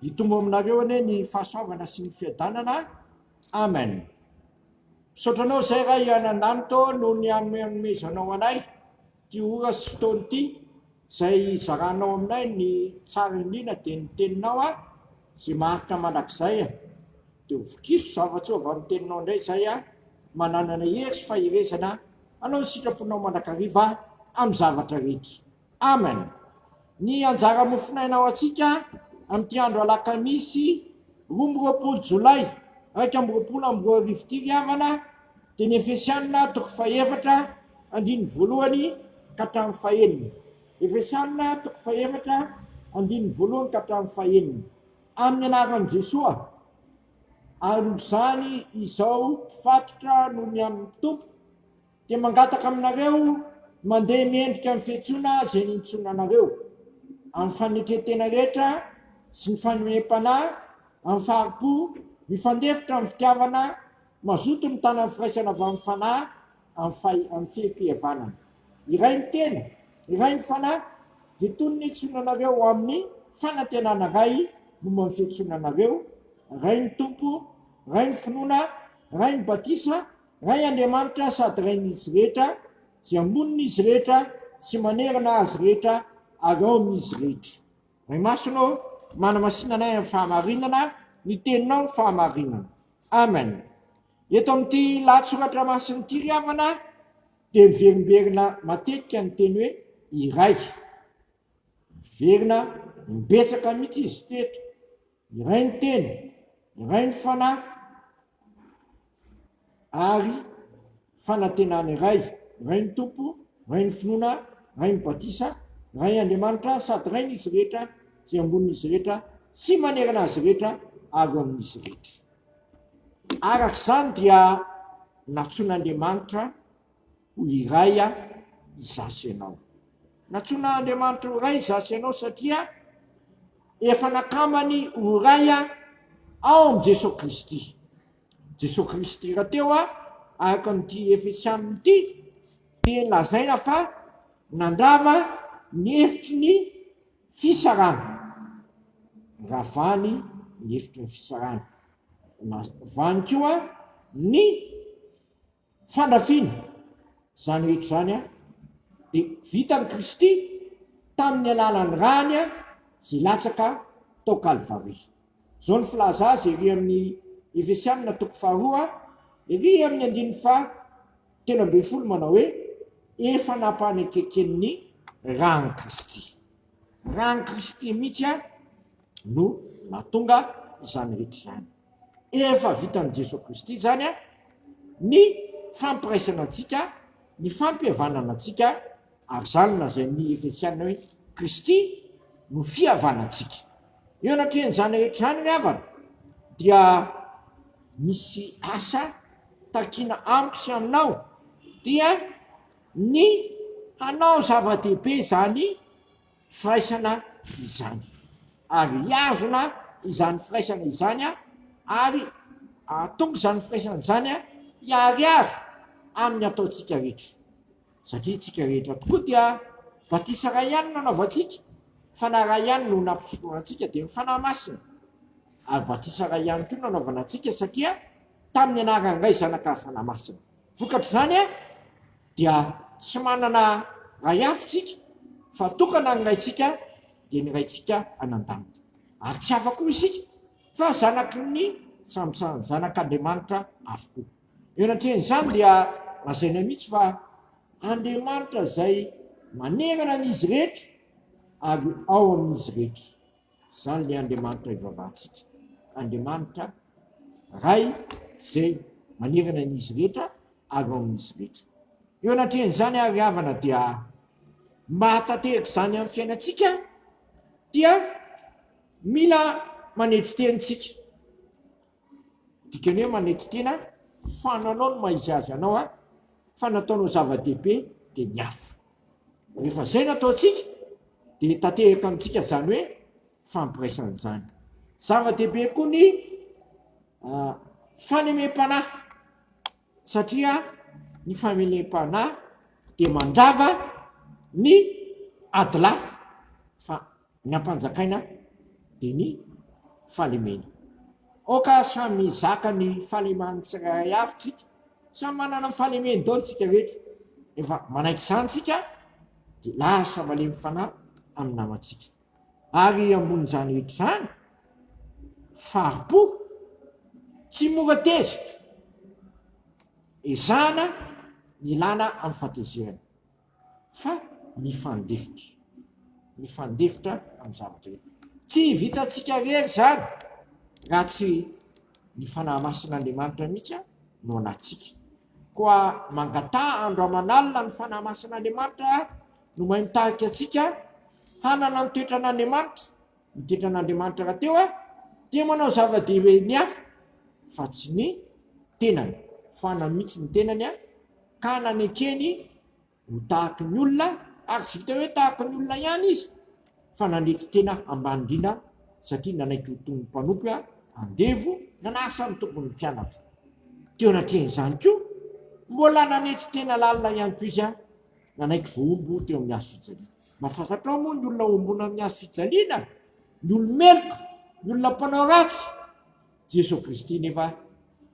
Hitombo aminareo anie ny fahasoavana sy ny fiadanana. Amen. Misaotra anao izay Ray Anandanitro noho ny hanomezanao anay ity ora sy fotoana ity izay zaranao aminay ny tsara indrindra dia ny teninao a izay maharitra mandrakizay a dia ho vokiso zava-tsoa avy amin'ny teninao indray izay a mananana hery sy faherezana hanao ny sitraponao mandrakariva amin'ny zavatra rehetra. Amen! Ny anjara mofonaina ho antsika amin'ity andro alakamisy roa amby roapolo jolay iraika amby roapolo amby roa arivo ity ry havana dia ny Efesianina toko fahefatra andininy voalohany ka hatramin'ny fahenina. Efesianina toko fahefatra andininy voalohany ka hatramin'ny fahenina. Amin'ny anaran'i Jesoa ary izany izao mpifatotra no mihamin'ny Tompo. Dia mangataka aminareo mandeha mendrika ny fiantsoana izay nintsoina anareo, amin'ny fanetren-tena rehetra sy ny fanomem-panahy, amin'ny fahari-po, mifandefitra amin'ny fitiavana, mazoto mitana ny firaisana avy amin'ny fanahy, amin'ny amin'ny fihe-pihavanana. Iray ny tena, iray ny fanahy, dia toy ny nintsoina anareo ho amin'ny fanantenana iray momba ny fiantsoana anareo, iray ny Tompo, iray ny finoana, iray ny batisa, Ray Andriamanitra sady Rain'izy rehetra, dia monina Izy rehetra sy manerana azy rehetra ary ao amin'izy rehetra. Ray Masina ô, manamasina anay amin'ny fahamarinana, ny Teninao no fahamarinana. Amen. Eto amin'ity lahatsoratra masin'ny ity ry havana dia miverimberina matetika ny teny hoe iray. Miverina imbetsaka mihitsy izy ity eto. Iray ny Teny, iray ny Fanahy, ary fanantenana iray, iray ny Tompo, iray ny finoana, iray ny batisa, iray Andriamanitra, sady iray n'izy rehetra, izay ambonin'izy rehetra sy manerana azy rehetra ary eo amin'izy rehetra. Araka izany dia nantsoin'Andriamanitra Ho iray izaho sy ianao. Nantsoina Andriamanitra ho iray izaho sy ianao satria efa nakambany ho iray ao amin'i Jesoa Kristy. Jesoa Kristy rahateo araka amin'ity Efesianina ity dia lazaina fa nandrava ny hevitry ny fisarahana. Ravany ny hevitry ny fisarahana. Ravany koa ny. Fandrafiana, izany rehetra izany dia vitan'i Kristy tamin'ny alalan'ny rany izay latsaka tao Kalvary. Izao ny filaza azy ery amin'ny Efesianina toko faharoa ery amin'ny andininy faha telo ambin'ny folo manao hoe, efa nampanekekeny ny ran'i Kristy. Ran'i Kristy mihitsy no nahatonga izany rehetra izany. Efa vitan'i Jesoa Kristy izany ny fampiraisana antsika, ny fampihavanana antsika, ary izany lazain'ny Efesiana hoe Kristy no fihavanantsika. Eo anatrehan'izany rehetra izany ry havana dia misy asa takiana amiko sy aminao dia ny hanao zava-dehibe izany firaisana izany, ary hihazona izany firaisana izany ary hahatonga izany firaisana izany hiharihary amin'ny ataontsika rehetra, satria isika rehetra tokoa dia batisa iray ihany no nanaovantsika, Fanahy iray ihany no nampisorona antsika, dia ny Fanahy Masina, ary batisa iray ihany koa no nanaovana antsika, satria tamin'ny anaran'ny Ray, Zanaka, ary Fanahy Masina. Vokatr'izany. dia tsy manana Ray hafa isika fa tokana ny Raintsika dia ny Raintsika any an-danitra, ary tsy hafa koa isika fa zanaky ny zanak'Andriamanitra avokoa. Eo anatrehan'izany dia lazainay mihitsy fa Andriamanitra izay manerana an'izy rehetra ary ao amin'izy rehetra. Izany ilay Andriamanitra ivavahantsika. Andriamanitra Ray izay manerana an'izy rehetra ary ao amin'izy rehetra. Eo anatrehan'izany ary havana dia mahatanteraka izany amin'ny fiainantsika dia mila manetry tena isika. Dikany hoe manetry tena fa nanao ny maha izy azy anao aho, fa ny ataonao zava-dehibe dia ny hafa. Rehefa izay no ataontsika dia tanteraka amintsika izany hoe fampiraisana izany. Zava-dehibe koa ny uh, fanemem-panahy, satria ny famelem-panahy dia mandrava ny adilahy fa Ny ampanjakaina dia ny fahalemena. Aoka samy hizaka ny fahaleman'ny tsirairay avy tsika, samy manana ny fahalemeny daholo tsika rehetra, rehefa manaiky izany tsika dia lasa malemy fanahy amin'ny namantsika. Ary ambonin'izany rehetra izany, faripo, tsy mora tezitra, ezahana ny hilana amin'ny fahatezerana. fa mifandefitra mifandefitra amin'ny zavatra rehetra. Tsy vitantsika rery izany raha tsy ny Fanahy Masin'Andriamanitra mihitsy no anatsika. Koa mangataha andro aman'alina ny Fanahy Masin'Andriamanitra no mahay mitarika antsika hanana ny toetran'Andriamanitra, ny toetran'Andriamanitra rahateo dia manao zava-dehibe ny hafa fa tsy ny tenany, foanany mihitsy ny tenany. ka nanekeny ho tahaky ny olona ary tsy vitan'ny hoe tahaky ny olona ihany izy fa nandrety tena ambany indrindra satria nanaiky ho toy ny mpanompo andevo nanasa ny tompon'ny mpianatra teo anatrehan'izany koa mbola nanetry tena lalina ihany koa izy nanaiky vohombo teo amin'ny hazo fijaliana mafazatrao moa ny olona ombona amin'ny hazo fijaliana ny olomeloka ny olona mpanao ratsy Jeso Kristy nefa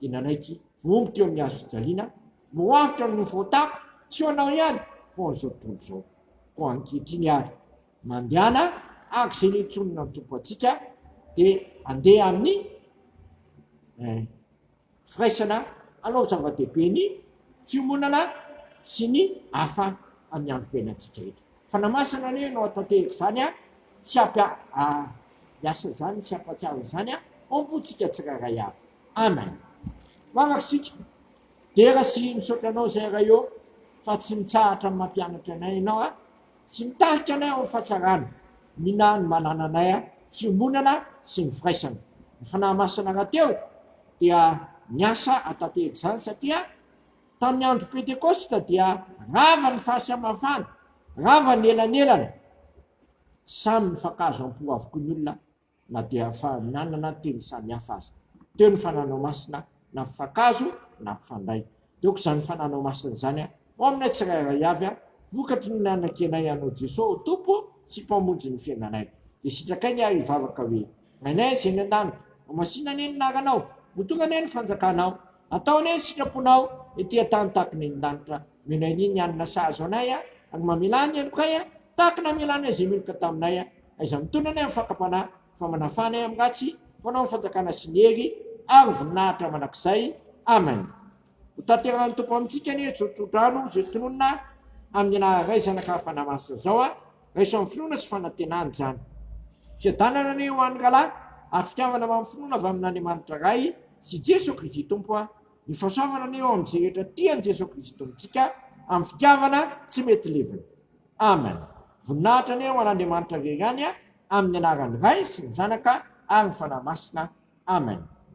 dia nanaiky vohomby teo amin'ny hazo fijaliana, Mihoaritra ny voatako, tsy ho anao ihany, vao an'izao tontolo izao. Koa ankehitriny àry, mandehana araka izay nentsoninà ny Tompo antsika, dia handeha amin'ny eh, firaisana hanao zava-dehibe ny fiomonana sy ny hafa amin'ny androm-piainantsika rehetra. Fanamasina anie no atatehiko izany a! Tsy ampy hiasa izany sy hampatsiaro izany a! Ompo tsika tsirairay avy. Amen. Mangaky isika. Dera sy misaotra anao izay Ray ô fa tsy mitsahatra mampianatra anay ianao a! Tsy mitarika anay ao amin'ny fahatsarana. Mina ny manananay a! Fiombonana sy ny firaisana. Ny Fanahy Masina rahateo dia niasa atatehiko izany satria. Tamin'ny andro Pentekosta dia rava ny fasy aman-fana, rava ny elanelana. Samy nifankahazo am-po avokoa ny olona na dia efa nanana teny samihafa aza. Teo ny fananao masina nampifankahazo, nampifandray. Teo koa izany fananao masina izany ho aminay tsirairay avy, vokatry ny nanakianay anao Jesoa ho Tompo sy Mpamonjy ny fiainanay. Dia sitrakay ny ahy hivavaka hoe. Ainay izay any an-danitra. Hamasina anie ny anaranao. Ho tonga anie ny fanjakanao. Hatao anie ny sitraponao ety an-tany tahaka ny any an-danitra. Omena ery ny hanina sahaza anay a! Ary mamelà ny helokay a! Tahaka ny namelanay izay meloka taminay a! Aiza mitondra anay amin'ny fakam-panahy? Fa manafà anay amin'ny ratsy. Fanao ny fanjakana sy ny hery ary ny voninahitra mandrakizay. Amen. Ho tanterahin'ny Tompo amintsika anie izao tsodrano izay tononina amin'ny anaran'iray zanaka fanahy masina izao a! Raiso amin'ny finoana sy fanantenana izany. Fiadanana anie ho an'ny rahalahy ary fitiavana amin'ny finoana avy amin'Andriamanitra Ray sy Jeso Kristy Tompo a! Ny fahasoavana anie ho amin'izay rehetra tia an'i Jeso Kristy Tompontsika amin'ny fitiavana tsy mety levona. Amen! Voninahitra anie ho an'Andriamanitra Irery ihany a! Amin'ny anaran'ny Ray sy ny Zanaka ary ny Fanahy Masina. Amen!